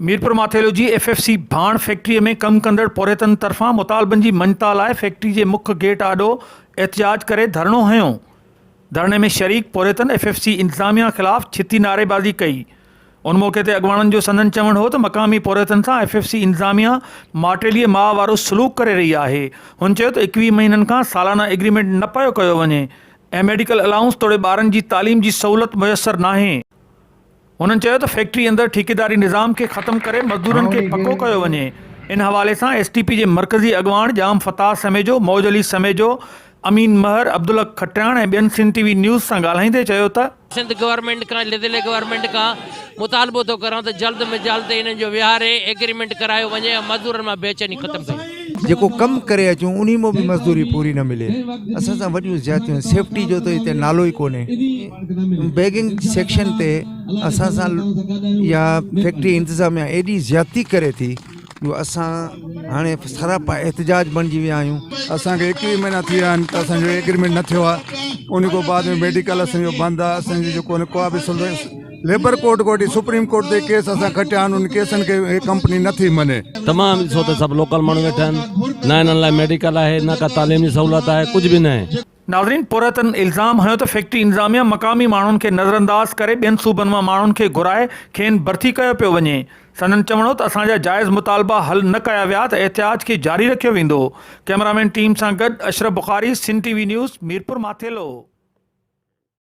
ميرپور ماٿيلو جي F F C ڀاڻ factory ۾ ڪم ڪندڙ پورهيتن طرفان مطالبن جي مڃتا لاء فيڪٽري جي مک گيٽ آڏو احتجاج ڪري ڌرڻو هنيو، ڌرڻي ۾ شريڪ پورهيتن ايف ايف سي انتظاميا خلاف ڇتي نعريبازي ڪئي، ان موقعي تي اڳواڻن جو سندن چوڻ هو ته مقامي پورهيتن سان ايف ايف سي انتظاميا ماٽيلي ماء وارو سلوڪ ڪري رهي آهي، هن چيو ته ايڪويهه مهينن کان سالانه ايگريمينٽ نه پيو ڪيو وڃي ۽ ميڊيڪل الائونس توڙي ٻارن جي تعليم جي سهولت ميسر ناهي. هنن چيو ته فيڪٽري اندر ٺيڪيداري نظام کي ختم ڪري مزدورن کي پڪو ڪيو وڃي، ان حوالي سان ايس ٽي پي جي مرڪزي اڳواڻ ڄام فتاح سميجو، موج علي سميجو، امين مهر، عبدالحق کٽياڻ ۽ ٻين سنڌ ٽي وي نيوز سان ڳالهائيندي چيو ته. سنڌ گورنمينٽ کان ضلعي گورنمينٽ کان مطالبو ٿو ڪران ته جلد م جلد انهن جو ويهاري ايگريمينٽ ڪرايو وڃي ۽ مزدورن مان بيچيني ختم ڪئي. جيڪو ڪم ڪري اچون انهي مان به مزدوري پوري نه ملي اسان سان وڏيون زيادتيون سيفٽي جو ته هتي نالو ئي ڪونهي بيگنگ سيڪشن تي اسان سان يا فيڪٽري انتظاميا ايڏي زيادتي ڪري ٿي جو اسان هاڻي سراپا احتجاج بڻجي ويا آهيون اسان کي ايڪويهه مهينا ٿي ويا آهن ته اسان جو ايگريمينٽ نه ٿيو آهي ان کان بعد ۾ ميڊيڪل اسان جو بند آهي اسان جو جيڪو ڪو به ليبر ڪورٽ ڪوٺي سپريم ڪورٽ تي ڪيس اسان کٽيا آهن ان ڪيسن کي هي ڪمپني نٿي مڃي. تمام ڏسو ته سڀ لوڪل ماڻهو ويٺا آهن نه انهن لاء ميڊيڪل آهي نه ڪا تعليم جي سهولت آهي ڪجهه به ناهي. ناظرين پورهيتن الزام هنيو ته فيڪٽري انتظاميه مقامي ماڻهن کي نظرانداز ڪري ٻين صوبن مان ماڻهن کي گهرائي کين ڀرتي ڪيو پيو وڃي سندن چوڻ هو ته اسان جا جائز مطالبا حل نه ڪيا ويا ته احتجاج کي جاري رکيو ويندو ڪئميرامين ٽيم سان گڏ Ashraf Bukhari Sindh T V news Mirpur Mathelo.